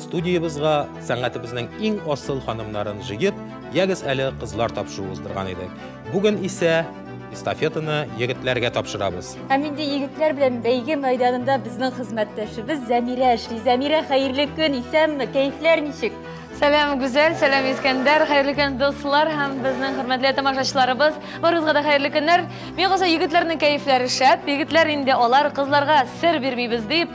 Студиябезгә сәнгатебезнең иң асыл ханымнарын җыеп, ягез әле кызлар тапшыруы уздырган идек. Бүген исә эстафетаны егетләргә тапшырабыз. Һәм инде егетләр белән бәйге мәйданында безнең хезмәттәшебез Зәмирә эшли. Зәмирә, хәерле көн, исәнме, кәефләр ничек? Сәлам, Гүзәл, сәлам, Искәндәр, хәерле көн, дуслар һәм безнең хөрмәтле тамашачыларыбыз. Барыгызга да хәерле көннәр. Миңа калса, егетләрнең кәефләре шәп. Егетләр инде алар, кызларга сер бирмибез дип,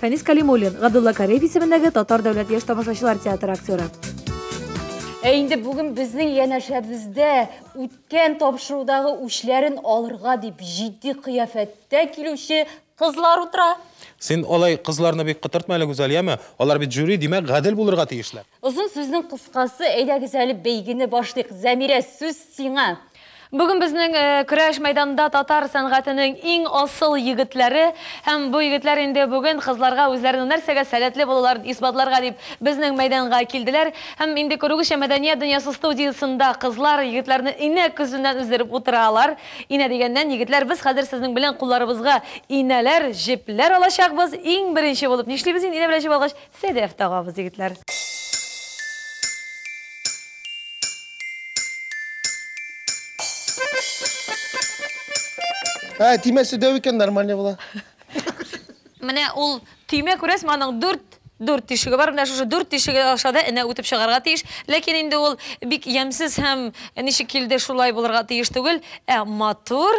Фәнис Калимуллин, Габдулла Кариев исемендәге Татар дәүләт яшь тамашачылар театры актеры. Ә инде бүген безнең янәшәбездә үткән тапшырудагы үчләрен алырга дип җитди кыяфәттә килүче кызлар утыра. Син алай кызларны бик котыртма әле, Гүзәлияме? Алар бит жюри, димәк, гадел булырга тиешләр. Озын сүзнең кыскасы, әйдәгез әле бәйгене башлыйк. Зәмирә, сүз сиңа. Бүген безнең көрәш мәйданында татар сәнгатенең иң асыл егетләре һәм бу егетләр инде бүген кызларга үзләренең нәрсәгә сәләтле булуларын исбатларга дип безнең мәйданга килделәр. Һәм инде күрүегезчә, Мәдәният дөньясы студиясендә кызлар егетләрне инә көзеннән өздереп утыралар. Инә дигәннән, егетләр, без хәзер сезнең белән кулларыбызга инәләр, җепләр алачакбыз. Иң беренче булып нишлибез инде инә белән җеп алгач? Федеев тагабыз, егетләр. Ә, тимәсе дәү икән, нормально була. Менә ул төймә күрәсме, аның дүрт дүрт тишеге бар. Менә шушы дүрт тишеге аша да энә үтеп чыгарга тиеш. Ләкин инде ул бик ямьсез һәм ничек килде шулай булырга тиеш түгел. Ә матур,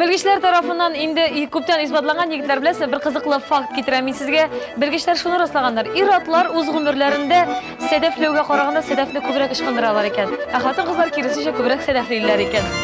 Белгечләр тарафыннан инде күптән исбатланган егетләр беләсе бер кызыклы факт китерәм мин сезгә. Белгечләр шуны раслаганнар. Ир-атлар үз гомерләрендә сәдәфләүгә караганда сәдәфне күбрәк ычкындыралар икән. Ә хатын-кызлар киресенчә күбрәк сәдәфлиләр икән.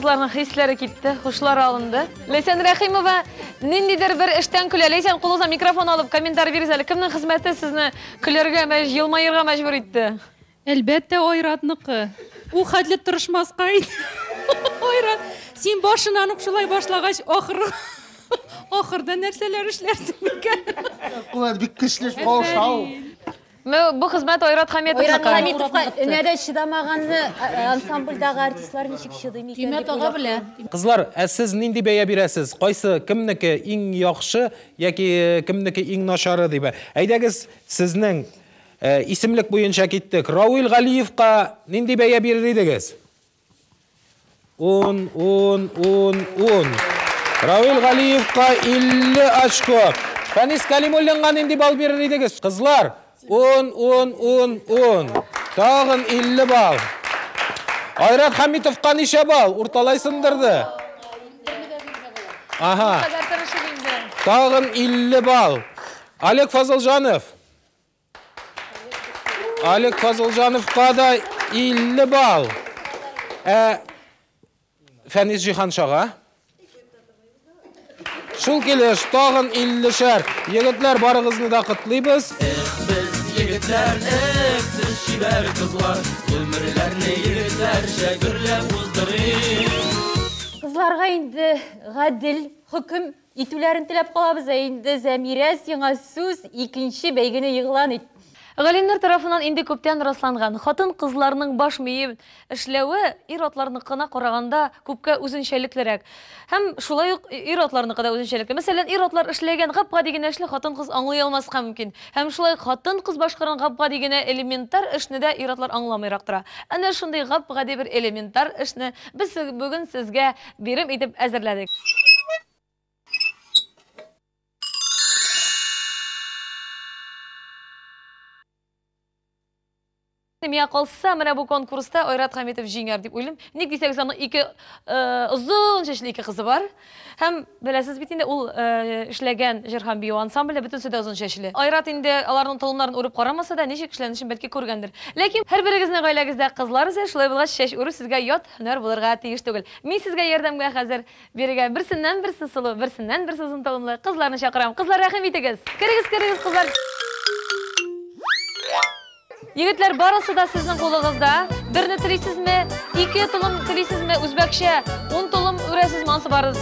Кызларның хисләре китте, хушлары алынды. Ләйсән Рәхимова, ниндидер бер эштән көлә. Ләйсән, кулыңыза микрофон алып, комментарий бирегез әле. Кемнең хезмәте сезне көләргә, мәҗ, елмаерга мәҗбүр итте? Әлбәттә, Айратныкы. Ул хәтле тырышмаска иде. Айрат, син башыннан ук шулай башлагач, ахыр ахырда нәрсәләр эшләрсең микән? Кулат бик көчле шау-шау. Ну, бу хезмәт Айрат Хәметовныкы. Айрат Хәметовка энәдә чыдамаганны ансамбльдагы артистлар ничек чыдый микән? Тимә тага белә. Кызлар, ә сез нинди бәя бирәсез? Кайсы, кемнеке иң яхшы яки кемнеке иң начары дип? Әйдәгез, сезнең Ә, исемлек буенча киттек. Рауил Галиевка нинди бәя бирер идегез? Ун, ун, ун, ун. Рауил Галиевка 50 очко. Фәнис Калимуллинга нинди балл бирер идегез? Кызлар, ун, ун, ун, ун. Тагын 50 балл. Айрат Хамитовка ничә балл? Урталай сындырды. Ага. Тагын 50 балл. Олег Фазылжанов. Алик Фазылҗановка да 50 балл. Ә Фәнис Җиһаншага Шул килеш тагын 50 шәр. Егетләр барыгызны да котлыйбыз. Эх, без егетләр, эх, сез чибәр кызлар, гомерләрне егетләрчә гөрләп уздырыйк. Кызларга инде гадел хөкем Итүләрен теләп калабыз, ә инде Зәмирә, сиңа сүз, икенче бәйгене игълан ит. Галимнәр тарафыннан инде күптән расланган, хатын-кызларның баш мие эшләве ир-атларныкына караганда күпкә үзенчәлеклерәк. Һәм шулай ук ир-атларныкы да үзенчәлекле. Мәсәлән, ир-атлар эшләгән гап-гади генә эшне хатын-кыз аңлый алмаска мөмкин. Һәм шулай ук хатын-кыз башкарган гап-гади генә элементар эшне дә ир-атлар аңламыйрак тора. Әнә шундый гап-гади бер элементар эшне без бүген сезгә Бирем итеп әзерләдек. Миңа калса, менә бу конкурста Айрат Хәмитов җиңәр дип уйлыйм. Ник дисәгез, аның ике озын чәчле ике кызы бар. Һәм беләсез бит инде, ул эшләгән җыр һәм бию ансамбле бөтенесе дә озын чәчле. Айрат инде аларның толымнарын үреп карамаса да, ничек эшләнешен бәлки күргәндер. Ләкин һәрберегезнең гаиләгездә кызлар үсә, шулай булгач, чәч үрү сезгә ят Һөнәр булырга тиеш түгел. Мин сезгә ярдәмгә хәзер. Бирегә берсеннән-берсе сылу, берсеннән-берсе озын талымлы кызларны чакырам. Кызлар, рәхим итегез! Керегез, керегез, кызлар! Егетләр, барысы да сезнең кулыгызда. Берне телисезме? Ике толым телисезме? Үзбәкчә, ун толым үрәсезме? Ансы барысы.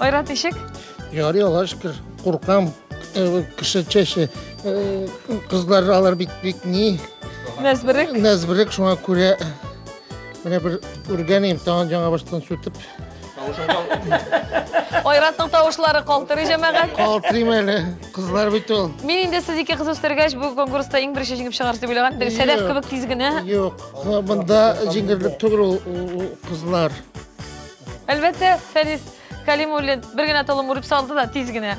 Айрат ишек? Ярый, Аллаһ шөкер, куркам. Э, кеше чәче э, кызлар алар бит бик ни Нәзберек. нәзберек шуңа күрә менә бер үргәнем тагын жаңа баштан сүтеп Айратның тавышлары калтырый җәмәгать. калтырыйм әле кызлар бит ул Мин инде сез ике кыз үстергәч, бу конкурста иң беренче җиңеп чыгарсыз дип уйлаган. Бер Сәләф Юк. кебек тиз генә. юк монда җиңерлек түгел ул- ул ул кызлар Әлбәттә, Фәнис Калимуллин бер генә толым үреп салды да тиз генә.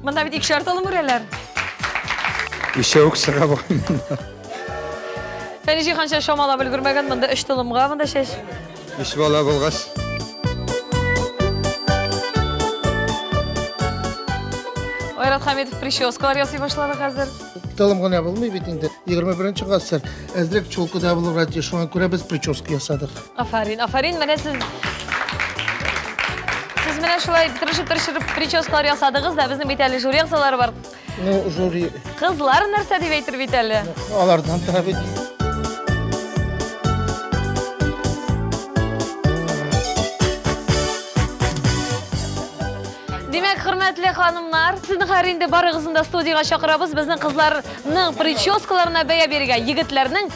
Монда бит икешәр толым үрәләр. Еще үк сорап Фәнис җыйганча шамалап өлгермәгән, монда өч толымга монда шәш. Өч бала булгач. Айрат Хамитов прическалар ясый башлады хәзер. Толым гына булмый бит инде. 21 нче гасыр. Әзрәк чулкыда булырга тиеш. Шуңа күрә без прическа ясадык. Афарин, афарин, менә сез... Сез менә шулай тырышып-тырышып прическалар ясадыгыз да, безнең бит әле жюри әгъзалары бар. Ну, жюри... Кызлар нәрсә дип әйтер бит әле? Алардан тора бит. Димәк, хөрмәтле ханымнар, сезне хәр инде барыгызны да студиягә чакырабыз. Безнең кызларның прическаларына бәя бирергә, егетләрнең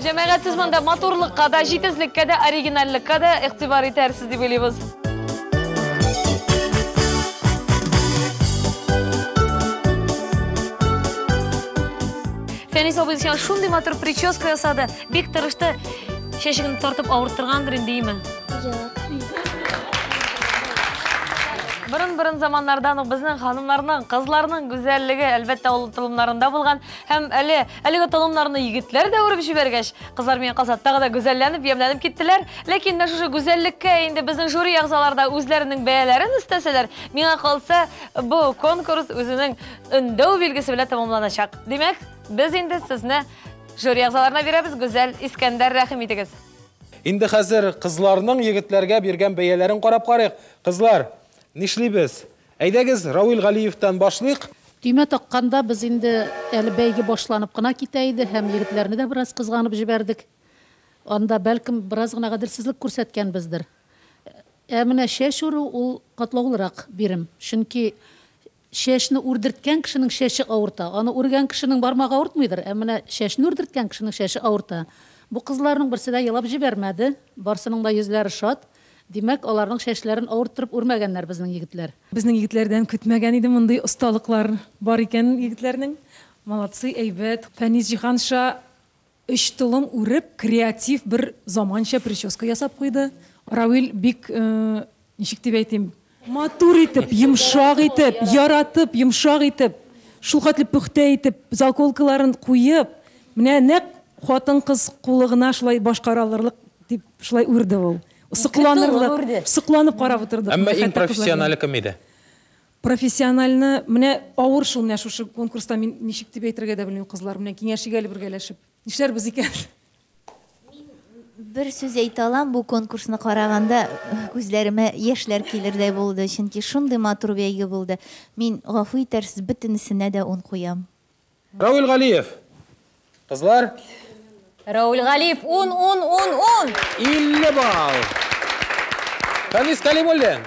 Җәмәгать, сез монда матурлыкка да, җитезлеккә дә, оригинальлеккә дә игътибар итәрсез дип уйлыйбыз. Фәнис абый сиңа шундый матур прическа ясады, бик тырышты. Чәчегемне тартып авырттыргандыр инде, име? Борын-борын заманнардан ук безнең ханымнарның, кызларның гүзәллеге, әлбәттә, ул толымнарында булган. Һәм әле, әлеге толымнарны егетләр дә үреп җибәргәч, кызлар мине казат тагы да гүзәлләнеп, ямьләнеп киттеләр. Ләкин менә шушы гүзәллеккә инде безнең жюри әгъзалары да үзләренең бәяләрен өстәсәләр, миңа калса, бу конкурс үзенең өндәү билгесе белән тәмамланачак. Димәк, без инде сезне жюри әгъзаларына бирәбез, Гүзәл, Искәндәр, рәхим итегез! Инде хәзер кызларның егетләргә биргән бәяләрен карап карыйк. Кызлар, нишлибез? Әйдәгез, Равил Галиевтан башлыйк. Төймә такканда, без инде әле бәйге башланып кына китә иде һәм егетләрне дә бераз кызганып җибәрдек. Анда, бәлкем, бераз гына гаделсезлек күрсәткәнбездер. Ә менә чәч үрү, ул катлаулырак бирем. Чөнки чәчне үрдерткән кешенең чәче авырта. Аны үргән кешенең бармагы авыртмыйдыр, ә менә чәчне үрдерткән кешенең чәче авырта. Бу кызларның берсе дә елап җибәрмәде, барсының да йөзләре шат. Димәк, аларның чәчләрен авырттырып үрмәгәннәр безнең егетләр. Безнең егетләрдән көтмәгән идем мондый осталыклар бар икән егетләрнең. Молодцы, әйбәт. Фәнис җиһанша өч толым үреп, креатив бер заманча прическа ясап куйды. Равил бик, ничек дип әйтим, Матур итеп, йомшак итеп, яратып, йомшак итеп, шулхәтле пөхтә итеп, заколкаларын куеп, менә нәкъ хатын-кыз кулы гына шулай башкара алырлык дип шулай үрде ул. Сокланырлык, сокланып карап утырдык. Әмма иң профессионале кем иде? Профессиональны, менә авыр шул, менә шушы конкурста мин ничек дип әйтергә дә белмим, кызлар, менә киңәшик әле бергәләшеп. Нишләрбез икән? бер сүз әйтә алам, бу конкурсны караганда э, күзләремә яшьләр килердәй булды, чөнки шундый матур бәйге булды. Мин гафу итәрсез, бөтенесенә дә ун куям. Рауль Галиев. Кызлар. Рауль Галиев 10 10 10 10. 50 балл. Фәнис Калимуллин.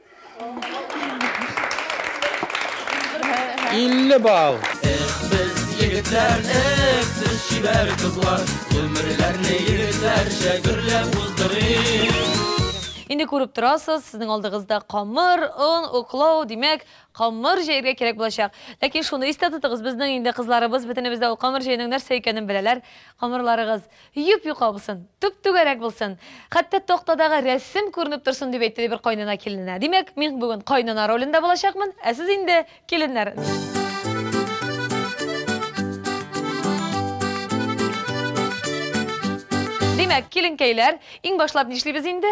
50 бал. Эх, без егетләр, эх, сез чибәр кызлар, гомерләрне егетләрчә гөрләп уздырыйк. Инде күреп торасыз, сезнең алдыгызда камыр, он, уклау, димәк, камыр җәергә кирәк булачак. Ләкин шуны истә тотыгыз, безнең инде кызларыбыз бөтенебез дә ул камыр җәйнең нәрсә икәнен беләләр. Камырларыгыз Йоп-юка булсын, төп-түгәрәк булсын, хәтта тактадагы рәсем күренеп торсын, дип әйтте, ди бер кайнана килененә. Димәк, мин бүген кайнана ролендә булачакмын, ә сез инде, киленнәр. Димәк, киленкәйләр, иң башлап нишлибез инде?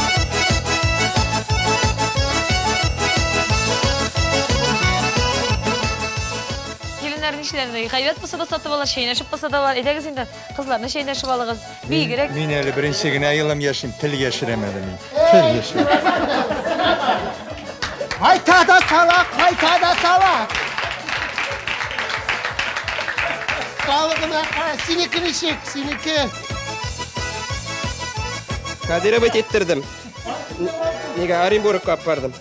кешеләрне гайбәт булса да сатып алар, чәйнәшеп булса да алар. Әйдәгез инде, кызларны чәйнәшеп алыгыз. Бигрәк. Мин әле беренче генә елым яшим, тел яшерәм әле мин. Тел яшерәм. Кайта да сала, кайта да сала. Калыгына, синеке ничек, синеке. Кадирова теттердем. Неге Оренбург кап бардым.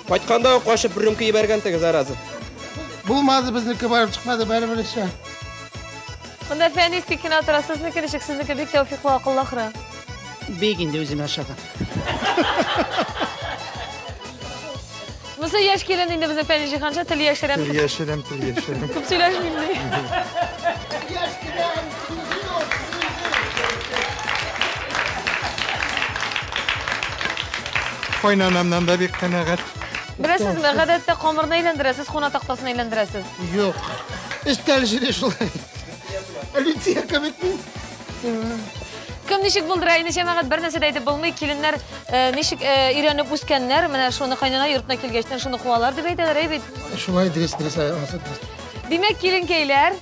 Кайтканда ук кашып рюмка ибәргән теге зараза. Булмады безнеке барып чыкмады бәре бересе. Монда фәни стикин атыра, сезнеке ничек, сезнеке бик тәүфиклы акыллы ахры. Бик инде үзем ашаган. Монысы яшь килен инде безнең Фәнис Җиһанша тел яшерәм. Тел яшерәм, тел яшерәм. Күп сөйләшмим ди. Яшь килен, Кайнанамнан да бик канәгать. Беләсезме, гадәттә камырны әйләндерәсез, куна тактасын әйләндерәсез. Юк. Өстәл җире шулай. Лития кебек мин. Кем ничек булдыра, инде җәмәгать бер нәрсә дә әйтеп булмый, киленнәр э, ничек э, өйрәнеп үскәннәр, менә шуны кайнана йортына килгәчтен шуны куалар дип әйтәләр, әй бит. Шулай дөрес, дөрес, ай, анысы дөрес. Димәк, киленкәйләр,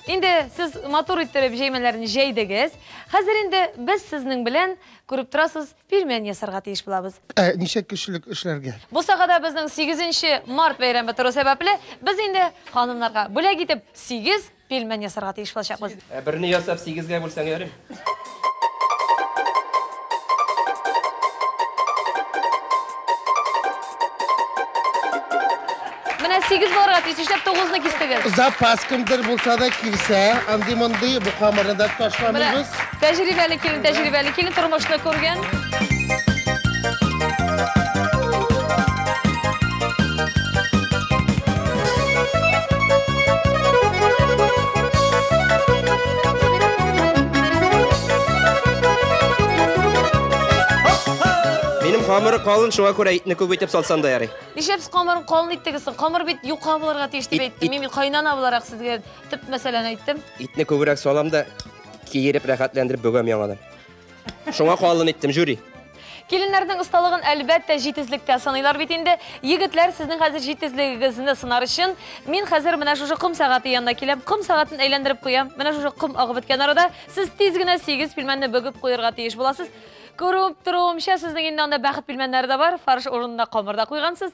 инде сез матур иттереп җәймәләрен җәйдегез. Хәзер инде без сезнең белән, күреп торасыз, пилмән ясарга тиеш булабыз. Ә ничә кешелек эшләргә? Бусагада безнең 8 март бәйрәме тору сәбәпле, без инде ханымнарга бүләк итеп 8 Пилмән ясарга тиеш булачакбыз. Ә берне ясап сигезгә бүлсәң ярыйм? Менә сигез булырга тиеш, нишләп тугызны кистегез? Запас кемдер булса да килсә, андый-мондый бу камырны да ташламыйбыз. Тәҗрибәле килен, тәҗрибәле килен, тормышны күргән. Минем камыры калын, шуңа күрә итне күп итеп салсам да ярый. Нишләп камырын калын иттегез? Камыр бит юка булырга тиеш дип әйттем. Мин кайнана буларак сезгә төп мәсьәләне әйттем. Итне күбрәк салам да киереп рәхәтләндереп бөгәм яңадан. Шуңа калын иттем, жюри. Киленнәрнең осталыгын әлбәттә җитезлектә сыныйлар бит инде. Егетләр, сезнең хәзер җитезлегегезне сынар өчен, мин хәзер менә шушы ком сәгате янына киләм, ком сәгатен әйләндереп куям. Менә шушы ком агып беткән арада сез тиз генә сигез пилмәнне бөгеп куерга тиеш буласыз. Күреп торуымча, сезнең инде анда бәхет пилмәннәре дә бар, фарш урынына камыр да куйгансыз.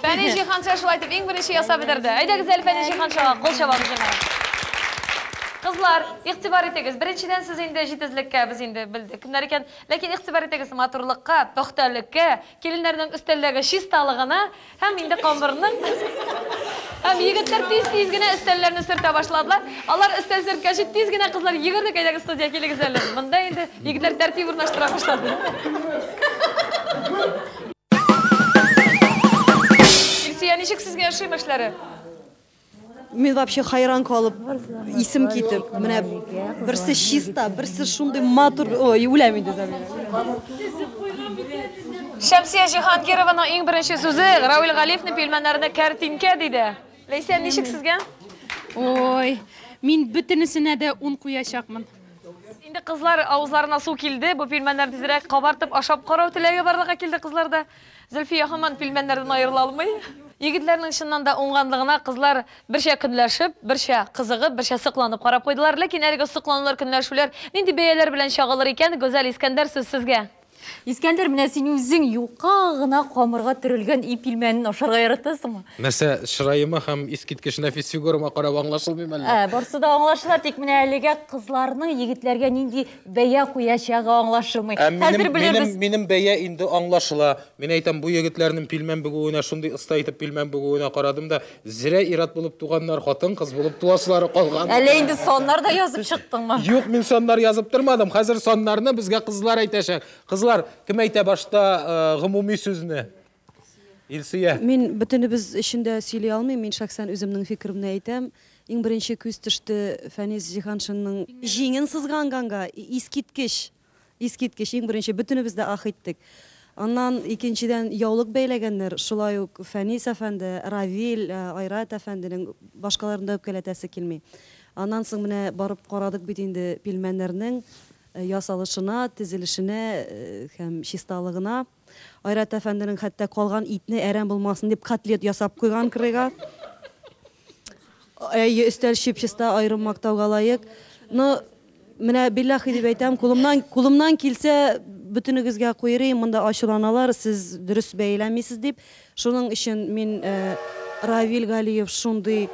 Фәни Җиһанша шулай итеп иң беренче ясап бетерде. Әйдәгез әле Фәни Җиһаншага кул чабабыз җиңә. Кызлар, игътибар итегез. Беренчедән сез инде җитезлеккә без инде белдек кемнәр икән. Ләкин игътибар итегез матурлыкка, пөхтәлеккә, киленнәрнең өстәлдәге чисталыгына. Һәм инде камырны Һәм егетләр тиз-тиз генә өстәлләрне сөртә башладылар. Алар өстәл сөрткәче тиз генә кызлар йөгердек, әйдәгез студия килегез әле. Монда инде егетләр тәртип урнаштыра башлады. Илсөя, ничек сезгә ошый эшләре? Мин вообще хайран калып, исем китеп, менә берсе чиста, берсе шундый матур, ой, үләм инде Замира. Шәмсия Җиһангированың иң беренче сүзе Равил Галиевне пилмәннәрне кәртинкә диде. Ләйсән, ничек сезгә? Ой, мин бөтенесенә дә ун куячакмын. Инде кызлар авызларына су килде, бу пилмәннәр тизрәк кабартып ашап карау теләге барлыкка килде кызларда. Зөлфия һаман пилмәннәрдән аерыла алмый. Егетләрнең чыннан да уңганлыгына кызлар берчә көнләшеп, берчә кызыгып, берчә сокланып карап куйдылар. Ләкин әлеге сокланулар, көнләшүләр нинди бәяләр белән чагылыр икән? Гүзәл, Искәндәр, сүз сезгә. Искәндәр, менә син үзең юка гына камырга төрелгән ий пилмәнен ашарга яратасыңмы? Нәрсә, чыраема һәм искиткеч нәфис фигурама карап аңлашылмыймы әллә? Ә, барсы да аңлашыла, тик менә әлегә кызларның егетләргә нинди Бәя куячагы аңлашылмый. Ә минем, минем, минем бәя инде аңлашыла. Мин әйтәм, бу егетләрнең пилмән бөгүенә шундый оста итеп пилмән бөгүенә карадым да, зря ират булып туганнар, хатын-кыз булып туасылары калган. Әле инде саннар да язып чыктыңмы? Юк, мин саннар язып тормадым. Хәзер саннарны безгә кызлар әйтәчәк. Кызлар, кем әйтә башта э, гомуми сүзне? Илсөя. Мин бөтенебез өчен дә сөйли алмыйм, мин шәхсән үземнең фикеремне әйтәм. Иң беренче күз төште Фәнис Җиһаншинның җиңен сызганганга, искиткеч! Искиткеч, иң беренче, бөтенебез дә ах иттек. Аннан, икенчедән, яулык бәйләгәннәр, шулай ук Фәнис әфәнде, Равил, Айрат әфәнденең, башкаларны да үпкәләтәсе килми. Аннан соң менә барып карадык бит инде пилмәннәрнең ясалышына, тезелешенә һәм чисталыгына. Айрат әфәнденең хәтта калган итне әрәм булмасын дип котлет ясап куйган кырыйга. Әйе, өстәл чип-чиста аерым мактауга лаек. Но менә биллахи дип әйтәм, кулымнан кулымнан килсә, бөтенегезгә куйрыйм, монда ачуланалар, сез дөрес бәяләмисез дип. Шуның өчен мин э, Равил Галиев шундый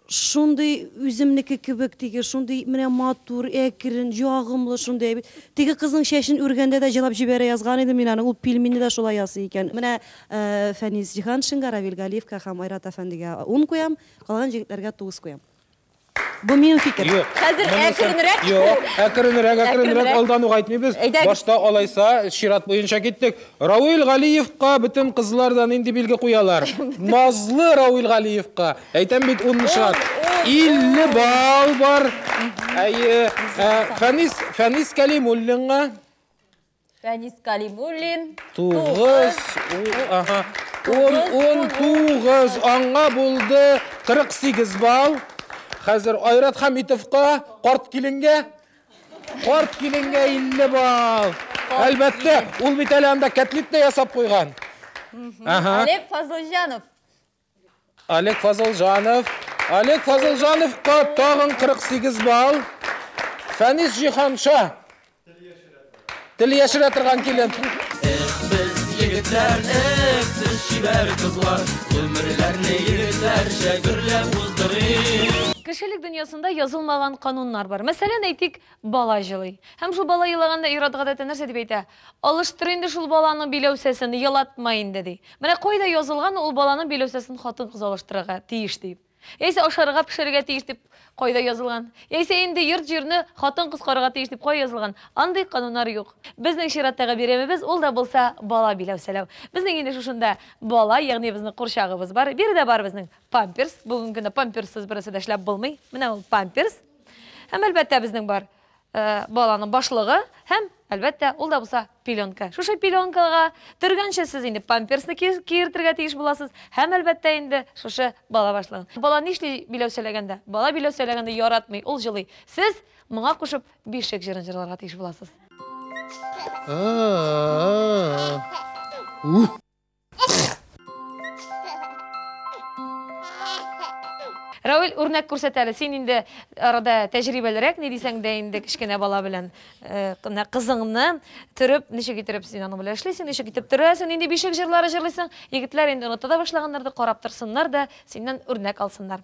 Шундый үземнеке кебек теге, шундый менә матур, әкрен, ягымлы шундый әби. Теге кызның чәчен үргәндә дә җылап җибәрә язган идем мин аны, ул пилминне дә шулай ясый икән. Менә Фәнис Җиһаншинга, Равил Галиевка һәм Айрат әфәндегә ун куям, калган җегетләргә тугыз куям. Бу минем фикер. Юк. Хәзер әкренрәк. Юк, әкренрәк, әкренрәк, алдан ук әйтмибез. Башта алайса, чират буенча киттек. Равил Галиевка бөтен кызлар да нинди билге куялар? Назлы Равил Галиевка. Әйтәм бит, ун шат. Илле бал бар. Әйе. Ә, Фәнис, Фәнис Кәлимуллинга. Фәнис Кәлимуллин. Тугыз. у- Ага. Ун, ун, тугыз. Аңа булды 48 бал. Хәзер Айрат Хәмитовка, карт киленгә. Карт киленгә 50 бал. Әлбәттә, ул бит әле анда кәтлит тә ясап куйган. Ага. Олег Фазылҗанов. Олег Фазылжанов. Олег Фазылжановка тагын 48 балл. Фәнис Җиханша. Тел яшерә торган килен. Эх, без егетләр, эх, сез чибәр кызлар, гомерләрне егетләрчә гөрләп уздырыйк. Кешелек дөньясында язылмаган кануннар бар. Мәсәлән, әйтик, бала җылый. Һәм шул бала елаганда ир-ат гадәттә нәрсә дип әйтә? Алыштыр инде шул баланың биләүсәсен, елатма инде, ди. Менә кайда язылган ул баланың биләүсәсен хатын-кыз алыштырырга тиеш дип? Яисә ашарга пешерергә тиеш дип кайда язылган? Яисә инде йорт-җирне хатын-кыз карарга тиеш дип кая язылган? Андый кануннар юк. Безнең чираттагы бәйрәмебез ул да булса бала биләүсәләү. Безнең инде шушында бала, ягъни безнең курчагыбыз бар. Биредә бар безнең памперс. Бүгенге көндә памперссыз берәрсе дә эшләп булмый. Менә ул памперс. Һәм, әлбәттә, безнең бар баланың башлыгы һәм, әлбәттә, ул да булса пеленка. Шушы пеленкага төргәнче сез инде памперсны киертергә тиеш буласыз һәм, әлбәттә, инде шушы бала башлыгын. Бала нишли биләү сөйләгәндә? Бала биләү сөйләгәндә яратмый, ул җылый. Сез моңа кушып бишек җырын җырларга тиеш буласыз. Равил үрнәк күрсәтә әле. Син инде арада тәҗрибәлерәк, ни дисәң дә инде кечкенә бала белән э, кына кызыңны төреп, ничек итеп син аның белән эшлисең, ничек итеп төрәсең, нинди бишек җырлары җырлыйсың. Егетләр инде оныта да башлаганнардыр, карап торсыннар да, синнән үрнәк алсыннар.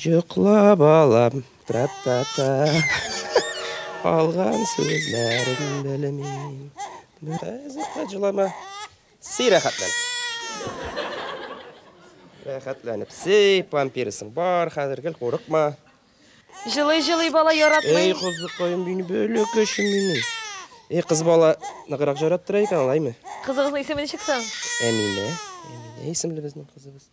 Йокла, балам, тра-та-та. Калган сүзләрен белмим. Хәзер хаҗлама. Си рәхәтлән. Рәхәтләнеп си, пампирсың бар, хәзер гел курыкма. Җылый җылый бала яратмый. Эй, кызыкаем минем, бәләкәчем минем. Эй, кыз бала ныграк жараттыра икән, алаймы? Кызыгызның исеме ничек соң? Әминә. Әминә исемле безнең кызыбыз.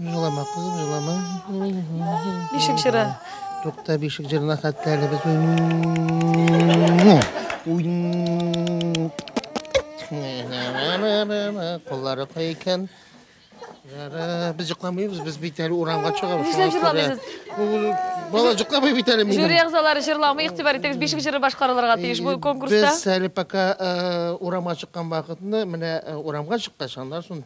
Җылама, кызым, җылама. Бишек җыры. Тукта бишек җырына хәтта әле без Куллары кай икән? Без җыкламыйбыз, без бит әле урамга чыгабыз. Нишләп җырламыйсыз? Бала җыкламый бит әле минем. Жюри әгъзалары җырламый, игътибар итегез, бишек җыры башкарылырга тиеш бу конкурста. Без әле пока урамга чыккан вакытны, менә урамга чыккач, аннан соң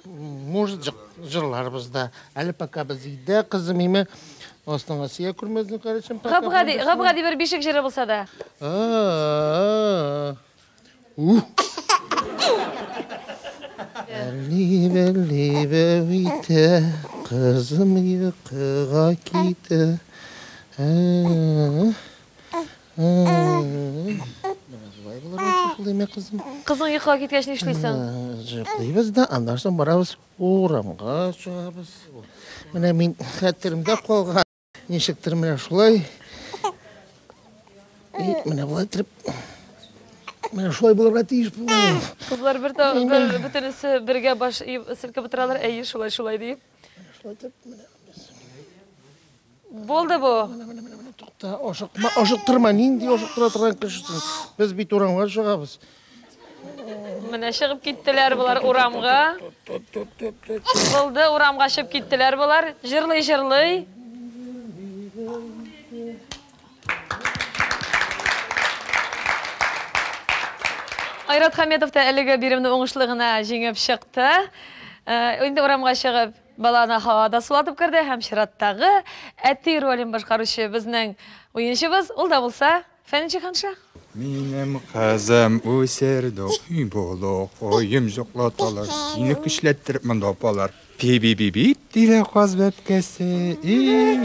может жырларыбыз да әле пока без өйдә кызым име астыңа сия күрмәсен карачым габгади габгади бер бишек җыры булса да Әлли бәлли бәу итә, кызым йокыга китә. Кызың йоклап киткәч нишлисең? Җыклыйбыз да, аннан соң барабыз урамга чыгабыз. Менә мин хәтеремдә калган. Ничектер менә шулай. И менә болай итеп Менә шулай булырга тиеш бу. Кызлар бер бөтенесе бергә баш селкеп утыралар, әйе, шулай, шулай диеп. Шулайтып, менә без. Булды бу. Менә, менә, менә, менә тукта, ашыкма, ашыктырма, нинди ашыктыра торган кешесең. Без бит урамга чыгабыз. Менә чыгып киттеләр болар урамга. Булды, урамга чыгып киттеләр болар. Җырлый-җырлый. Айрат Хәметов та әлеге биремне уңышлы гына җиңеп чыкты. Э, инде урамга чыгып, баланы һавада сулатып керде һәм чираттагы әти ролен башкаручы безнең уенчыбыз, ул да булса Фәнче ханша. Минем кызым үсерде, ой булу, оем жоклаталар. Сине көчләттереп монда апалар. Пи-би-би-бип, диде каз бәбкәсе, и,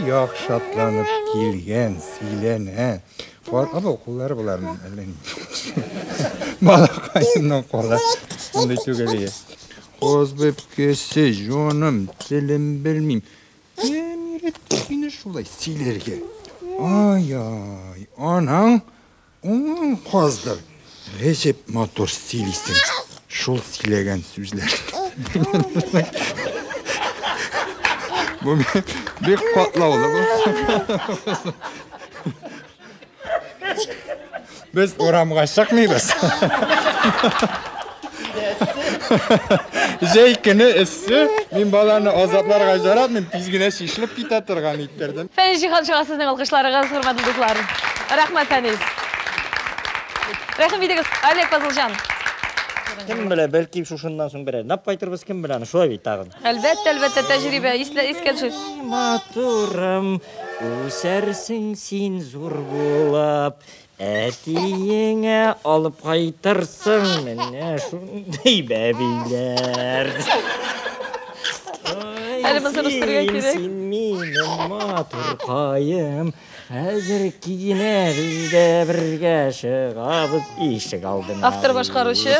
як шатланып килгән, сөйләнә. Кар, або, куллары боларның, әллә ни. Малакаемның кулы, шундый түгел иде. Каз бәбкәсе, җаным, телем белмим. Кем өйрәтте сине шулай сөйләргә? Ай-ай, анаң Уң каздыр. Гәҗәп матур сөйлисең. Шул сөйләгән сүзләр. Бу бик катлаулы бу. Без урамга чыкмыйбыз. Җәй көне эссе, мин баланы азапларга яратмыйм, тиз генә чишелеп китә торган иттердем. Фәнис Җиһаншига сезнең алкышларыгыз, хөрмәтле дуслар. Рәхмәт, Фәнис. Рәхим итегез, Олег Пазылҗан. Кем белә, бәлки шушыннан соң берәр нап кайтырбыз, кем белә, аны шулай бит тагын. Әлбәттә, әлбәттә, тәҗрибә, ислә, искә төшер. Матурым, үсәрсең син зур булып, Әтиеңә алып кайтырсың менә шундый бәбиләр. Әле моны өстергә кирәк. Син минем матуркаем. Хәзер киенәбез дә бергә чыгабыз ишек алдына. Автор башкаручы.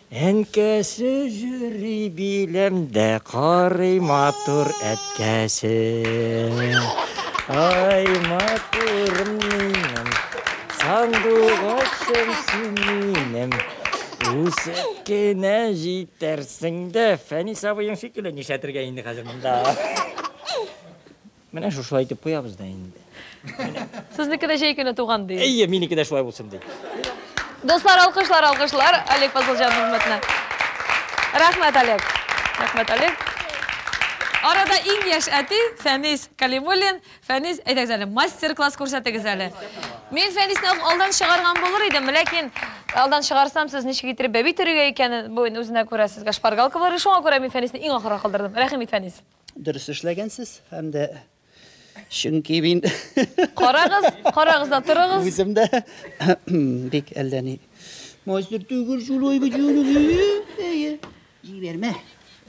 Әнкәсе йөри биләмдә, карый матур әткәсе. Ай, матурым минем, сандугачым син минем. Үсеп кенә җитәрсең дә, Фәнис абыең шикелле нишләтергә инде хәзер монда? Менә шушылай итеп куябыз да инде. Сезнеке дә җәй көне туган ди. Әйе, минеке дә шулай булсын ди. Дуслар, алкышлар, алкышлар. Олег Фазылҗан хезмәтенә. Рәхмәт, Олег. Рәхмәт, Олег. Арада иң яшь әти Фәнис Калимуллин. Фәнис, әйдәгез әле, мастер-класс күрсәтегез әле. Мин Фәнисне алдан чыгарган булыр идем, ләкин алдан чыгарсам, сез ничек иттереп бәби төрергә икәнен, бу үзенә күрә сезгә шпаргалка булыр, шуңа күрә мин Фәнисне иң ахырга калдырдым. Рәхим ит, Фәнис. Дөрес эшләгәнсез һәм дә чөнки мин Карагыз, карагыз да торыгыз. үзем дә бик әллә ни мастер түгел шулай бит Әйе. Җибәрмә.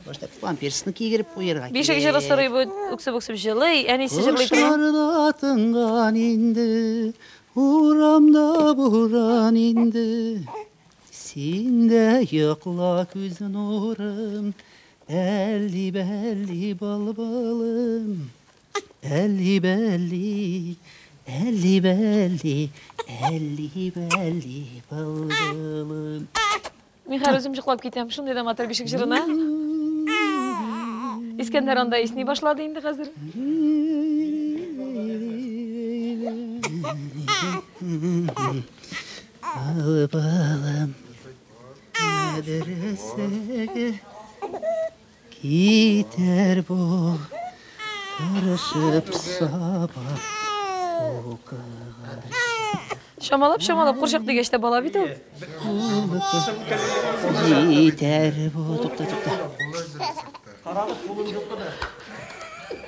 Башта памперсны кигереп куярга. Бишек җыры сорый бу үксеп-үксеп җылый. Әнисе җырлый торган. Кошлар да тынган инде, урамда буран инде. Син дә йокла күз нурым, Әлли-бәлли былбылым, әлли-бәлли, әлли-бәлли, әлли-бәлли былбылым. Мин хәзер үзем җыклап китәм, шундый да матур бишек җырына. Искәндәр анда исни башлады инде хәзер. Алып алам. Мәдрәсәгә китәр бу Тырышып саба укыган Чамалап, чамалап, курчак дигәч тә бала бит ул. Җитәр бу, тукта, тукта. Карагыз, кулын йоклыды.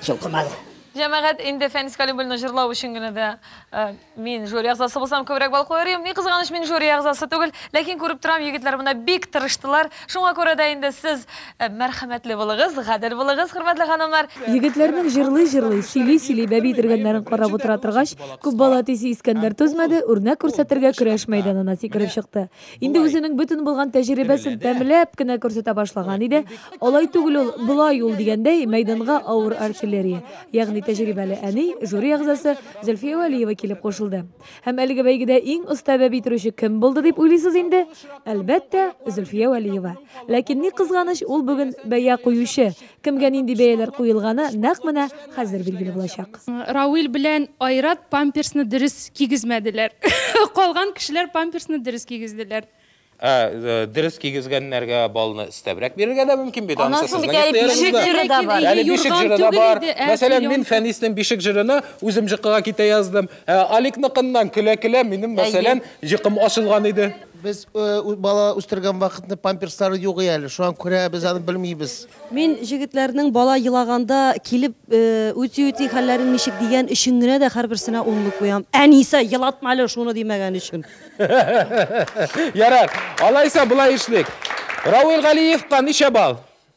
Җылкымады. Җәмәгать инде Фәнис Калимбулны җырлау өчен генә дә э, Мин жюри әгъзасы булсам күбрәк бал куер идем. Ни кызганыч, мин жюри әгъзасы түгел, ләкин күреп торам, егетләр монда бик тырыштылар. Шуңа күрә дә инде сез э, мәрхәмәтле булыгыз, гадел булыгыз, хөрмәтле ханымнар. Егетләрнең җырлый-җырлый, сөйли-сөйли бәби төргәннәрен карап утыра торгач, күп бала тисе Искәндәр түзмәде, үрнәк күрсәтергә көрәш мәйданына сикереп чыкты. Инде үзенең бөтен булган тәҗрибәсен тәмләп кенә күрсәтә башлаган иде. Алай түгел ул, болай ул дигәндәй, мәйданга авыр артиллерия, ягъни тәҗрибәле әни, жюри әгъзасы Зөлфия Вәлиева килеп кушылды. Һәм әлеге бәйгедә иң оста бәби торучы кем булды дип уйлыйсыз инде? Әлбәттә, Зөлфия Вәлиева. Ләкин ни кызганыч, ул бүген бәя куючы, Кемгә нинди бәяләр куелганы нәкъ менә хәзер билгеле булачак. Рауил белән Айрат памперсны дөрес кигезмәделәр. Калган кешеләр памперсны дөрес кигезделәр. Ә дөрес кигезгәннәргә баллны өстәбрәк бирергә дә мөмкин бит, анысы Анысы бит сезнең әле ихтыярыгызда. бишек җыры да бар. Әле бишек Юрган җыры да түгел бар. иде, ә Мәсәлән, мин пеленка. Фәниснең бишек җырына үзем җыкыга китә яздым. Ә Аликныкыннан көлә-көлә минем, мәсәлән, җыкым ачылган иде. Без бала үстергән вакытны памперслары юк и әле, шуңа күрә без аны белмибез. Мин җегетләрнең бала елаганда килеп үти-үти хәлләрен ничек дигән өчен генә дә һәрберсенә унлы куям. Әнисә, елатма әле шуны димәгән өчен. Ярар, алайса болай эшлик. Рауил Галиевка ничә балл?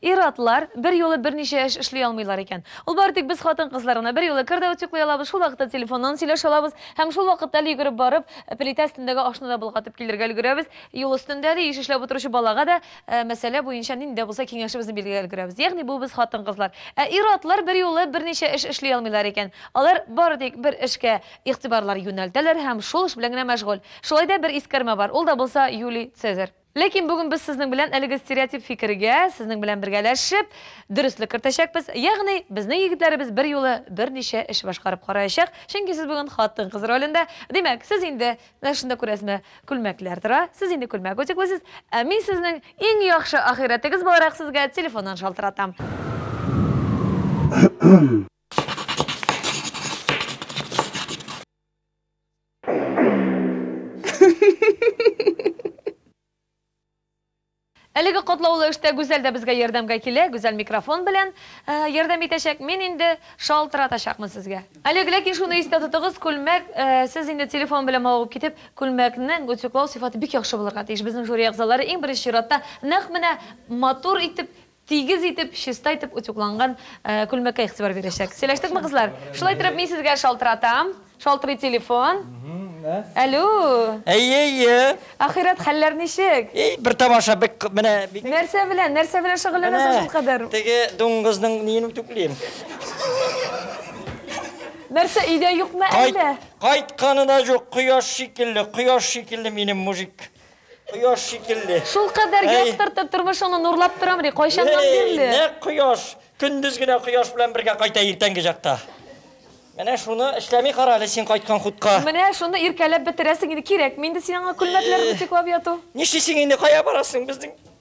Ир-атлар берьюлы берничә эш эшли алмыйлар икән. Ул бары тик без хатын-кызлар гына. Берьюлы кер дә утюглый алабыз, шул вакытта телефоннан сөйләшә алабыз һәм шул вакытта әле йөгереп барып, плитә өстендәге ашны да болгатып килергә өлгерәбез, юл өстендә әле еш эшләп утыручы балага да мәсьәлә буенча нинди дә булса киңәшебезне бирергә өлгерәбез. Ягъни бу без хатын-кызлар. Ә ир-атлар берьюлы берничә эш эшли алмыйлар икән. Алар бары тик бер эшкә игътибарлар юнәлтәләр һәм шул эш белән генә мәшгуль. Шулай да бер искәрмә бар, ул да булса Юлий Цезарь. Ләкин бүген без сезнең белән әлеге стереотип фикергә, сезнең белән бергәләшеп, дөреслек кертәчәкбез, ягъни безнең егетләребез берьюлы берничә эш башкарып караячак, чөнки сез бүген хатын-кыз ролендә, димәк, сез инде, менә шунда күрәсезме, күлмәкләр тора, сез инде күлмәк утеклыйсыз, ә мин сезнең иң яхшы ахирәтегез буларак сезгә телефоннан шалтыратам. Әлеге катлаулы эштә Гүзәл дә безгә ярдәмгә килә, Гүзәл микрофон белән ярдәм итәчәк, мин инде шалтыратачакмын сезгә. Олег, ләкин шуны истә тотыгыз, күлмәк, сез инде телефон белән мавыгып китеп, күлмәкнең утюглау сыйфаты бик яхшы булырга тиеш, безнең жюри әгъзалары иң беренче чиратта нәкъ менә матур итеп Тигез итеп, чиста итеп утюгланган күлмәккә игътибар бирәчәк. Сөйләштекме, кызлар? Шулай итеп, мин сезгә шалтыратам. Шалтырый телефон. Әлү! Әйе, әйе. Ахирәт, хәлләр ничек? Ий, бер тамаша, бик, менә, бик. Нәрсә белән, нәрсә белән шөгыльләнәсең шул кадәр? Менә, теге дуңгызның ниен үтүклим. Нәрсә, өйдә юкмы әллә? Кайтканы да юк, кояш шикелле, кояш шикелле минем мужик. Кояш шикелле. Шулкадәр яктыртып, тормышыңны нурлап торам ди, кайчаннан бирле? Әй, нәкъ кояш! Көндез генә кояш белән бергә кайта иртәнге чакта. Менә шуны эшләми кара әле син кайткан хутка. Менә шуны иркәләп бетерәсең инде, кирәкми инде сиңа аңа күлмәкләр бутиклап яту. Нишлисең инде, кая барасың, безнең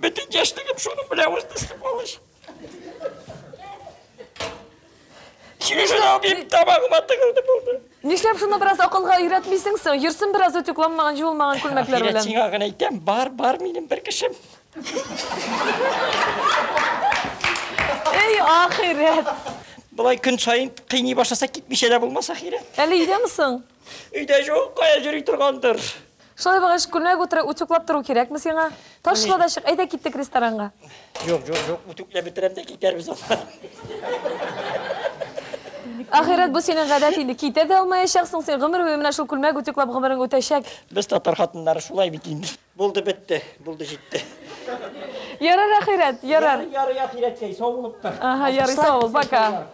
Бөтен яшьлегем шуның белән узды, сволочь. Чүжен абим табагыма тыгылды булды. Нишләп шуны бераз акылга өйрәтмисең соң? Йөрсен бераз үтүк ламмаган, җуылмаган күлмәкләр белән. Сиңа гына әйтәм, бар, бар минем бер кешем. Эй, ахирәт! Болай көн саен кыйный башласа, китмичә дә булмас, ахирәт. Әле өйдәме соң? Өйдә җук, кая йөри торгандыр. Шулай булгач, күлмәк утыры утюклап тору кирәкме сиңа? Ташла да чык, әйдә киттек ресторанга. Юк, юк, юк, утюклап бетерәм дә китәрбез аннан. Ахирәт, бу синең гадәт инде, китә дә алмаячаксың син, гомер буе менә шул күлмәк утюклап гомерең үтәчәк. Без татар хатыннары шулай бит инде. Булды, бетте, булды, җитте. Ярар, ахирәт, ярар. Ярар, ярар, ахирәт, сәй, сау булып тор. Ага, ярый, сау бул, пока.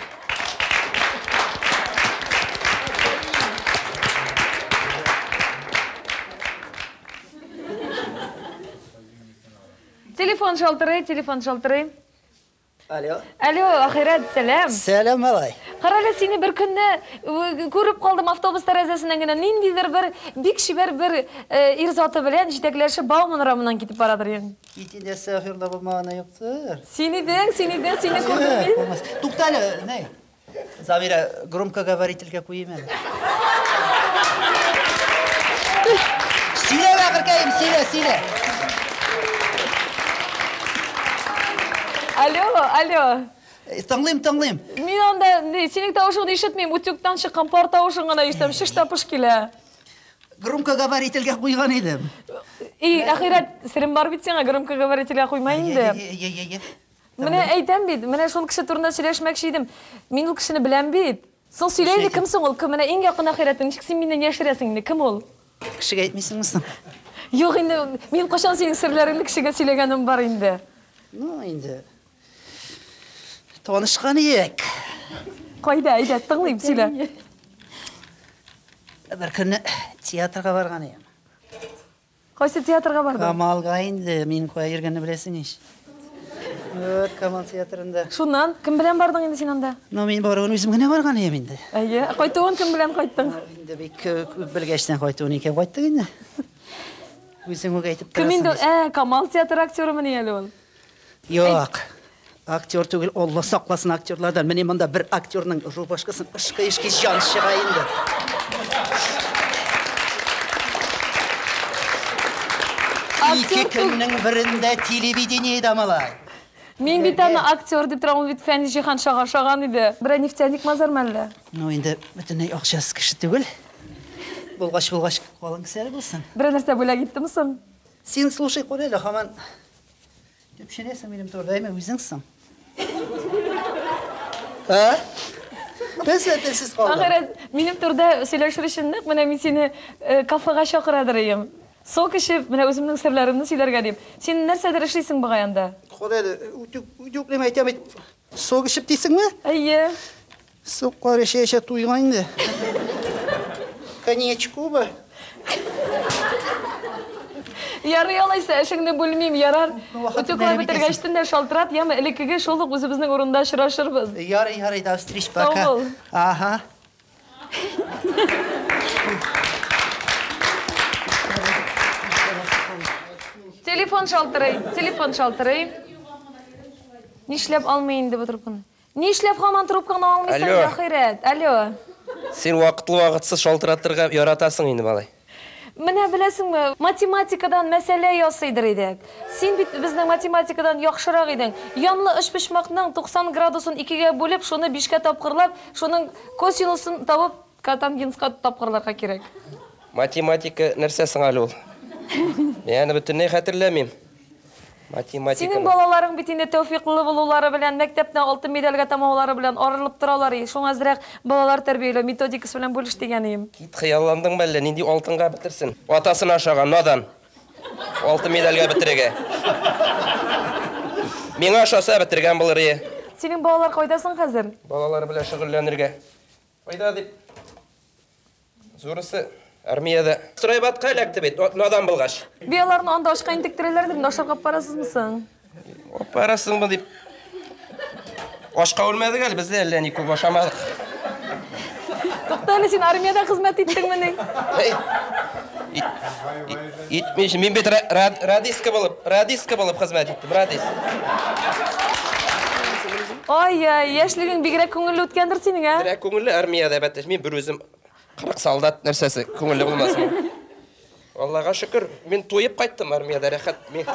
Телефон шалтырый, телефон шалтырый. Алло. Алло, Ахирәт, сәлам. Сәлам, малай. Карале сине бер көнне күреп калдым автобус тәрәзәсеннән генә. Ниндидер бер бик чибәр бер ир заты белән җитәкләшеп Бауман урамыннан китеп бара торган. Кити нәрсә ахирда булмаганы юктыр. Син идең, син идең, сине күрдем мин. Туктале, ней. Замира, громкоговорительгә куйыйм әле. Сөйлә, бәгыркәем, сөйлә, сөйлә. Алло, алло. Э, тыңлыйм, тыңлыйм. Мин анда синең тавышыңны ишетмим, утюгтан чыккан пар тавышын гына ишетәм, шыш та пыш килә. Громкоговорительгә куйган идем. И, ахирәт, серем бар бит сиңа, громкоговорительгә куйма инде. Менә әйтәм бит, менә шул кеше турында сөйләшмәкче идем. Мин ул кешене беләм бит. Соң сөйлә инде, кем соң ул? Кем менә иң якын ахирәтең? Ничек син миннән яшерәсең инде? Кем ул? Кешегә әйтмисеңме соң? Юк инде, мин кайчан синең серләреңне кешегә сөйләгәнем бар инде? Ну, инде танышкан идек. Кайда, әйдә, тыңлыйм, сөйлә. Бер көнне театрга барган идем. Кайсы театрга бардың? Камалга инде, мин кая йөргәнне беләсең ич. Вот, Камал театрында. Шуннан, кем белән бардың инде син анда? Ну, мин баруын үзем генә барган идем инде. Әйе, кайтуын кем белән кайттың? Инде бик күп белгәчтән кайтуын икән кайттык инде. Үзең үк әйтеп торасың. Кем инде? Ә, Камал театры актерымы ни әле ул? Юк. Актер түгел, Алла сакласын актерлардан. Менә монда бер актерның рубашкасын ышкы ишки җан чыга инде. Ике көннең берендә телевидениедә малай. Мин бит аны актер дип торам, ул бит Фәнис Җиһан шага шаган иде. Берәр нефтяник мазар мәллә? Ну инде бөтенләй акчасыз кеше түгел. Булгач булгач, калын кесәле булсын. Берәр нәрсә бүләк иттем соң? Син слушай, күр әле, хаман Төпченәсең минем турыда, әмә үзең соң. Ә? Телсез, телсез калдың. Ахырет, минем турыда сөйләшер өчен нык менә мин сине э, кафега чакырадыр идем. Сок эчеп, менә үземнең серләремне сөйләргә дип. Син нәрсәдер эшлисең бугай анда. Ходай, үтүк, үтүклеме әйтәм бит. Сок эчеп дисеңме? Әйе. Суккар эчә-эчә туйган инде. Коньячкубы? Ярый алайса, эшеңне бүлмим, ярар? Утюглар бетергәч төн дә шалтырат, яме, элеккеге шул ук үзебезнең урында очрашырбыз. Ярый, ярый, до встреч, пока. Сау бул. Ага. Телефон шалтырый, телефон шалтырый. Нишләп алмый инде бу трубканы? Нишләп һаман трубкаңны алмыйсың, Алло. ахирәт? Алло. Син вакытлы-вакытсыз шалтыратырга яратасың инде, малай. Менә беләсеңме, математикадан мәсьәлә ясыйдыр идек. Син бит безнең математикадан яхшырак идең. Янлы өчпочмакның 90 градусын икегә бүлеп, шуны бишкә тапкырлап, шуның косиносын табып, Котангенска тапкырларга кирәк. Математика нәрсә соң әле ул? Мин аны бөтенләй хәтерләмим. Математиканы. Синең балаларың бит инде тәүфиклы булулары белән, мәктәпне алтын медальгә тәмамлаулары белән арылып торалар и. Шуңа әзрәк балалар тәрбияләү методикасы белән бүлеш дигән өем. Кит, хыялландыңмы әллә, нинди алтынга бетерсен. Атасына ошаган, надан. Алтын медальгә бетерергә. Миңа ошаса, бетергән булыр и. Синең балалар кайда соң хәзер? Балалар белән шөгыльләнергә Кайда дип? Зурысы армиядә. Стройбатка эләкте бит, надан булгач. Би аларны анда ашка интектерәләр дип ашарга барасызмы соң? Барасыңмы дип. Ашка үлмәдек әле, без дә әллә ни күп ашамадык. Тукта әле, син армиядә хезмәт иттеңмени? Итмеш, мин бит радистка булып, радистка булып хезмәт иттем, радист. Ай-яй, яшьлегең бигрәк күңелле үткәндер синең, ә? Бигрәк күңелле армиядә бәттәш. Мин бер үзем 40 солдат нәрсәсе күңелле булмасын. Аллага шөкер, мин туеп кайттым армиядә рәхәт. Мин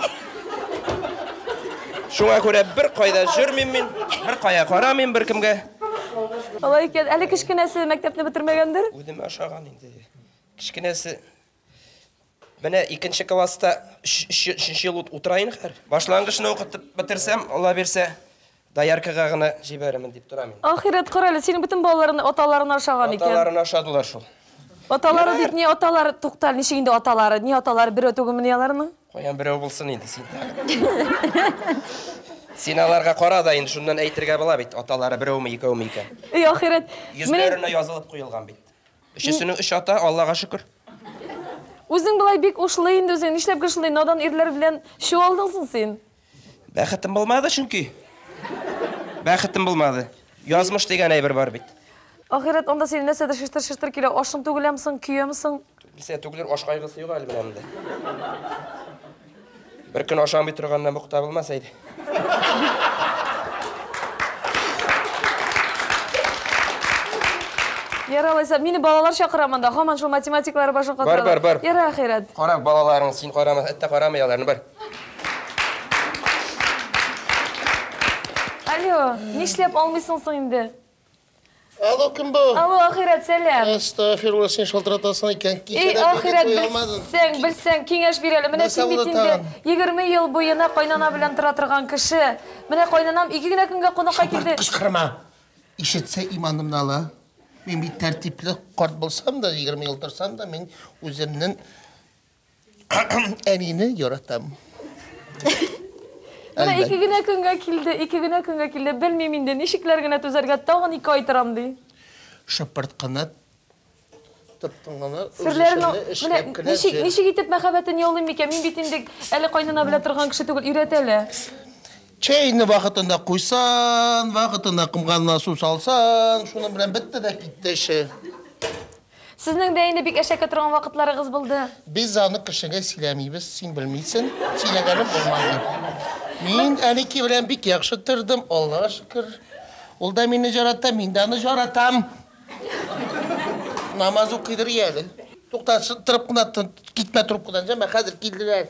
Шуңа күрә бер кайда җөрмим мин, бер кая карамыйм бер кемгә. Алай икән, әле кечкенәсе мәктәпне бетермәгәндер? Үзем ашаган инде. Кечкенәсе Менә икенче класста өченче ел утыра инде хәзер. Башлангычны укытып бетерсәм, Алла бирсә, дояркага гына җибәрермен дип торам инде. Ахирәт, кара әле, синең бөтен балаларың аталарына ошаган икән. Аталарына ошадылар шул. Аталары дип ни аталар, туктал, ничек инде аталары, ни аталар, берәү түгелмени аларның? Каян берәү булсын инде син. Син аларга кара да инде шуннан әйтергә була бит, аталары берәүме, икәүме икән. Эй, ахирәт. Йөзләренә язылып куелган бит. Өчесенең өч ата, Аллага шөкер. Үзең болай бик ушлы инде үзең, нишләп гел шундый надан ирләр белән чуалдың соң син? Бәхетем булмады чөнки. Бәхетем булмады. Язмыш дигән әйбер бар бит. Ахирәт, анда синең нәрсәдер шыштыр-шыштыр килә, ашың түгеләме соң, көямсең? Нәрсә түгелер, аш кайгысы юк әле менә монда. Бер көн ашамый торганнан бу кыта булмаса иде. Яра алайса, мине балалар чакыра монда. Хаман шул математиклары башын катыра. Бар, бар, бар. Яра ахирәт. Кара балаларың, син карама, әттә карамый аларны, бар. Алло, нишләп алмыйсың соң инде? Алло, кем бу? Алло, ахирәт, сәлам. Әстәгфирулла, син шалтыратасың икән. Эй, ахирәт, белсәң, белсәң, киңәш бир әле. Менә син бит инде 20 ел буена кайнана белән тора торган кеше. Менә кайнанам ике генә көнгә кунакка килде. Кычкырма. Ишетсә иманымны ала. Мин бит тәртипле карт булсам да, 20 ел торсам да, мин үземнең Әнине яратам. Менә ике генә көнгә килде, ике генә көнгә килде. Белмим инде, ничекләр генә түзәргә, тагын ике ай торам ди. Шыпырт кына тоттың гына, ничек, ничек итеп мәхәббәтен яулыйм микән? Мин бит инде әле кайнана белә торган кеше түгел, өйрәтә лә. Чәйне вакытында куйсан, вакытында кымганына су салсан, шуның белән бетте дә китте эше. Сезнең дә инде бик әшәке торган вакытларыгыз булды. Без аны кешегә сөйләмибез, син белмисен, сөйләгәнем булмады. Мин Әники белән бик яхшы тордым, Аллага шөкер. Ул да мине җарата, мин дә аны җаратам. Намаз укыйдыр ияле. Тукта, торып кына тор, китмә трубкадан, җәмә, хәзер килделәр.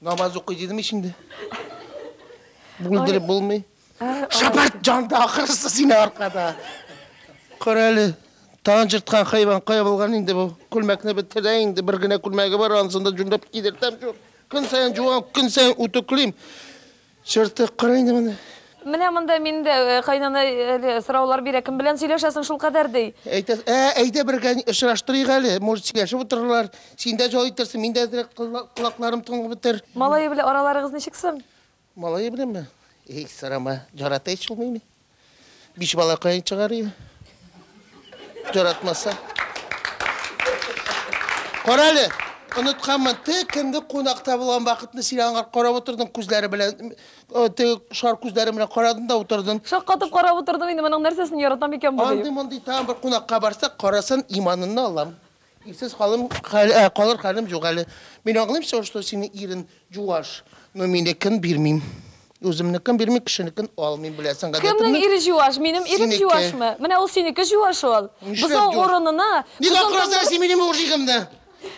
Намаз укый дидем ич инде. Бүлдереп булмый. Шәпәт җанда ахырысы сине аркада. Карәле, тагын җырткан хайван кая булган инде бу? Күлмәкне бетерә инде, бер генә күлмәге бар, ансын да җүнләп кидертәм шул. Көн саен җуам, көн саен үтүклим. Чыртык кара инде моны. Менә монда мин дә кайнана әле сораулар бирә, кем белән сөйләшәсең шул кадәр ди. Әйтәс, ә, әйдә бергә очраштырыйк әле, может сөйләшеп утырырлар, син дә җал итәрсең, мин дә әзрәк колакларым тынлык бетер. Малае белән араларыгыз ничек соң? Малае беләнме? Эй, сорама, ярата ич ул мине. Биш балакаен чыгарыйм. Яратмаса. Кара әле, онытканмын, теге көнге кунакта булган вакытны син аңа карап утырдың күзләре белән, э, теге шар күзләре белән карадың да утырдың. Шаккатып карап утырдым инде, моның нәрсәсен яратам икән бу дип. Андый-мондый тагын бер кунакка барсак, карасын, иманынны алам. Ирсез халым, калыр хәлем юк әле. Мин аңлыйм все, что синең ирең җуаш, но минекен бирмим. Үземнекен бирмим, кешенекен алмыйм, беләсең гадәтемне. Кемнең ире җуаш? Минем ирем җуашмы? Менә ул синеке җуаш ул. Бозау урынына. Ник акырасың син минем мужигымны?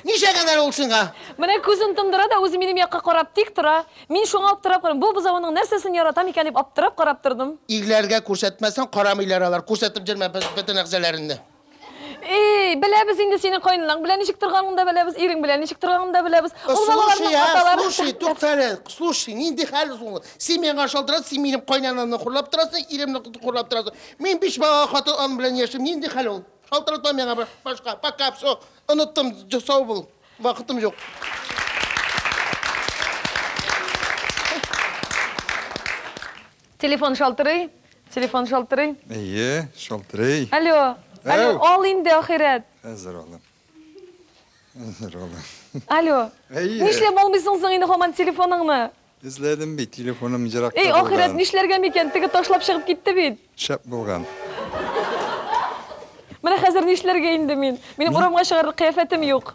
Ничә гәнәр ул сиңа? Менә күзен тондыра да үзе минем якка карап тик тора. Мин шуңа аптырап карыйм. Бу бозауның нәрсәсен яратам икән дип аптырап карап тордым. Ирләргә күрсәтмәсәң, карамыйлар алар. Күрсәтеп җөрмә бөтен әгъзаларыңны. И-и-и, беләбез инде синең каенынаң белән ничек торганын да беләбез, ирең белән ничек торганын да беләбез. Ул балаларның аталары. Слушай, слушай, тукта әле, слушай, нинди хәл соң ул? Син миңа шалтырат, син минем кайнанамны хурлап торасың, иремне хурлап торасың. Мин биш бала хатын ан белән яшим, нинди хәл ул? Шалтыратма миңа башка. Пока, все, оныттым, сау бул. Вакытым юк. Телефон шалтырый, телефон шалтырый. Әйе, шалтырый. Алло, алло, ал инде, ахирәт. Әзер алам. Әзер алам. Алло. Әйе. Нишләп алмыйсың соң инде хаман телефоныңны? Эзләдем бит, телефоным җыракта булган. Эй, ахирәт, нишләргә микән? Теге ташлап чыгып китте бит. Шәп булган. Менә хәзер нишләргә инде мин? Минем урамга чыгарлык кыяфәтем юк.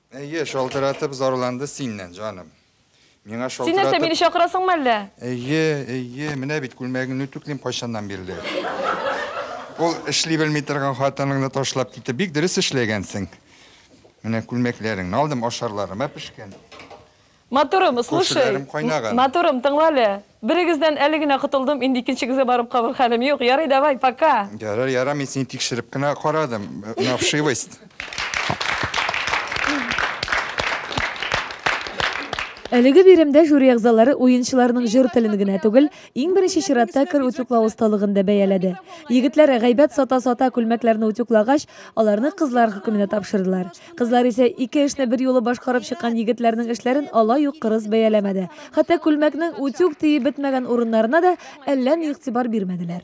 Әйе, шалтыратып зарланды синнән, җаным. Миңа шалтыратып... Син нәрсә, мине чакырасыңмы әллә? Әйе, әйе, менә бит күлмәгеңне үтүклим кайчаннан бирле. Ул эшли белми торган хатыныңны ташлап китеп, бик дөрес эшләгәнсең. Менә күлмәкләреңне алдым, ашарларыма пешкән. Матурым, слушай. Күршеләрем кайнаган. Матурым, тыңла әле. Берегездән әле генә котылдым, инде икенчегезгә барып калыр хәлем юк. Ярый, давай, пока. Ярар, ярар, мин сине тикшереп кенә карадым. На вшивость. Әлеге биремдә жюри әгъзалары уенчыларның җыр телен генә түгел, иң беренче чиратта кер утюклау осталыгын да бәяләде. Егетләр гайбәт сата-сата күлмәкләрне утюклагач, аларны кызлар хөкеменә тапшырдылар. Кызлар исә ике эшне бер юлы башкарып чыккан егетләрнең эшләрен алай ук кырыс бәяләмәде. Хәтта күлмәкнең утюг тиеп бетмәгән урыннарына да әллә ни игътибар бирмәделәр.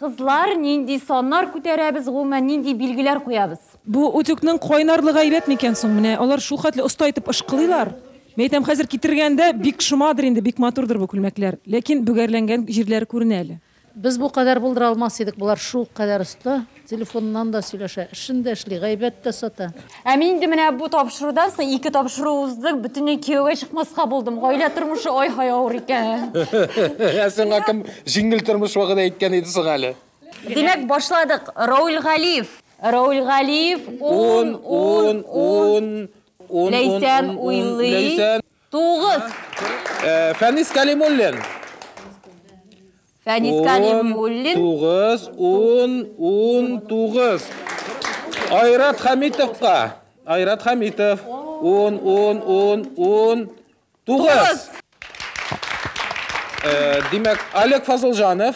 Кызлар, нинди саннар күтәрәбез, гомумән, нинди билгеләр куябыз? Бу утюгның кайнарлыгы әйбәт микән соң? Менә алар шул хәтле оста итеп ышкылыйлар. Мин әйтәм, хәзер китергәндә бик шомадыр инде, бик матурдыр бу күлмәкләр. Ләкин бөгәрләнгән җирләре күренә әле. Без бу кадәр булдыра алмас идек, болар шул кадәр оста, телефоннан да сөйләшә, эшен дә эшли, гайбәт тә сата. Ә мин инде менә бу тапшырудан соң ике тапшыру уздык, бөтенләй кияүгә чыкмаска булдым. Гаилә тормышы ай-һай авыр икән. Ә сиңа кем җиңел тормыш вәгъдә иткән иде соң әле? Димәк, башладык. Рауль Галиев. Рауль Галиев, ун, ун, ун. Ләйсән уйлый. Тугыз. Э, Фәнис Калимуллин. Фәнис Калимуллин. Тугыз, ун, ун, тугыз. Айрат Хамитовка. Айрат Хамитов. Ун, ун, ун, ун, тугыз. Э, Димәк, Олег Фазылжанов.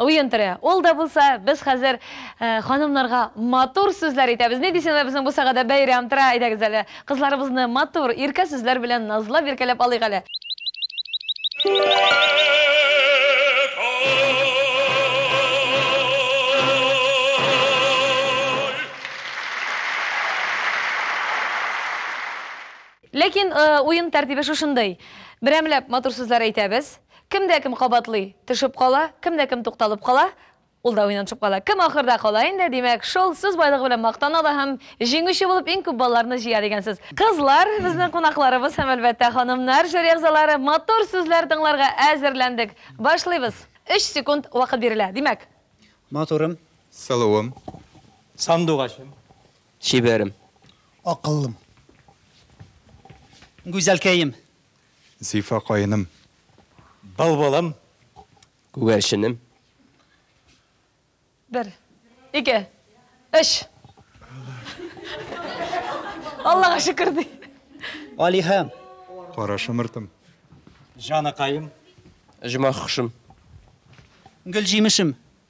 Уен төре. Ул да булса, без хәзер ханымнарга матур сүзләр әйтәбез. Ни дисеңнәр, безнең бусагада бәйрәм тора, әйдәгез әле, кызларыбызны матур, иркә сүзләр белән назлап-иркәләп алыйк әле. Ләкин уен тәртибе шушындый. Берәмләп матур сүзләр әйтәбез. Кем дә кем кабатлый, төшеп кала, кем дә кем тукталып кала, ул да уйнан төшеп кала. Кем ахырда кала инде, димәк, шул сүз байлыгы белән мактана ала һәм җиңүче булып иң күп балларны җыя дигән сүз. Кызлар, безнең кунакларыбыз һәм, әлбәттә, ханымнар, жюри әгъзалары, матур сүзләр тыңларга әзерләндек. Башлыйбыз. Өч секунд вакыт бирелә. Димәк. Матурым. Сылуым. Сандугачым. Чибәрем. Акыллым. Гүзәлкәем. Зифа каеным. Бал балам. Күгәрченем. Бер. Ике. Өч. Аллага шөкер ди. Алиһәм. Кара шымыртым. Җаныкаем. Оҗмахшым. Гөлҗимешем.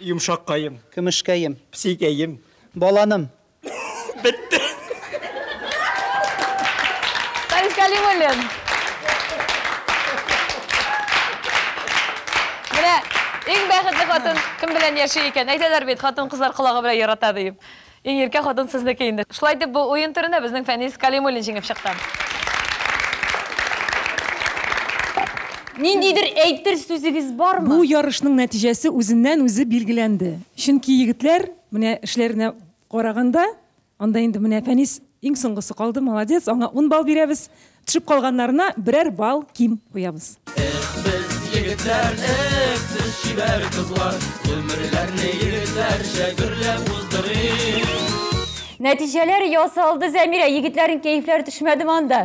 Йомшаккаем. Көмешкәем. Псикәем. Баланым. Бетте. Фарис Кәлимуллин. Менә иң бәхетле хатын кем белән яши икән? Әйтәләр бит, хатын-кызлар колагы белән ярата диеп. Иң иркә хатын сезнеке инде. Шулай итеп, бу уен турында безнең Фәнис Калимуллин җиңеп чыкты. Ниндидер әйтер сүзегез бармы? Бу ярышның нәтиҗәсе үзеннән-үзе билгеләнде. Чөнки егетләр, менә эшләренә караганда, анда инде менә Фәнис иң соңгысы калды, молодец, аңа ун балл бирәбез. Төшеп калганнарына берәр балл ким куябыз. Эх, без егетләр, эх, сез чибәр кызлар, гомерләрне егетләрчә гөрләп уздырыйк. Нәтиҗәләр ясалды, Зәмирә, егетләрнең кәефләре төшмәдеме анда?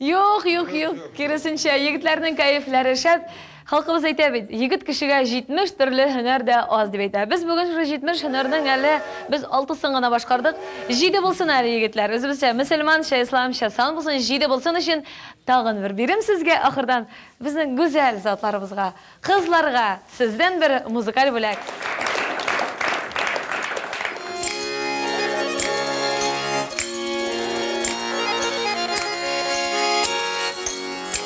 Юк, юк, юк, киресенчә, егетләрнең кәефләре шәп. Халкыбыз әйтә бит, егет кешегә 70 төрле һөнәр дә аз дип әйтә. Без бүген шушы 70 һөнәрнең әле без алтысын гына башкардык. Җиде булсын әле, егетләр, үзебезчә, мөселманча, исламча сан булсын, җиде булсын өчен тагын бер бирим сезгә ахырдан, безнең гүзәл затларыбызга, кызларга сездән бер музыкаль бүләк.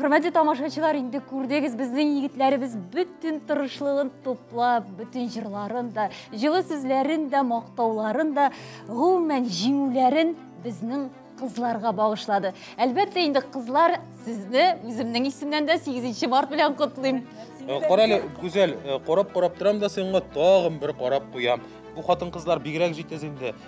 Хөрмәтле тамашачылар, инде күрдегез, безнең егетләребез бөтен тырышлыгын туплап, бөтен җырларын да, җылы сүзләрен дә, мактауларын да, гомумән җиңүләрен безнең кызларга багышлады. Әлбәттә, инде кызлар сезне үземнең исемнән дә 8 март белән котлыйм. Э, Карале, Гүзәл, э, карап-карап торам да сиңа тагын бер карап куям. Бу хатын-кызлар бигрәк җитез инде.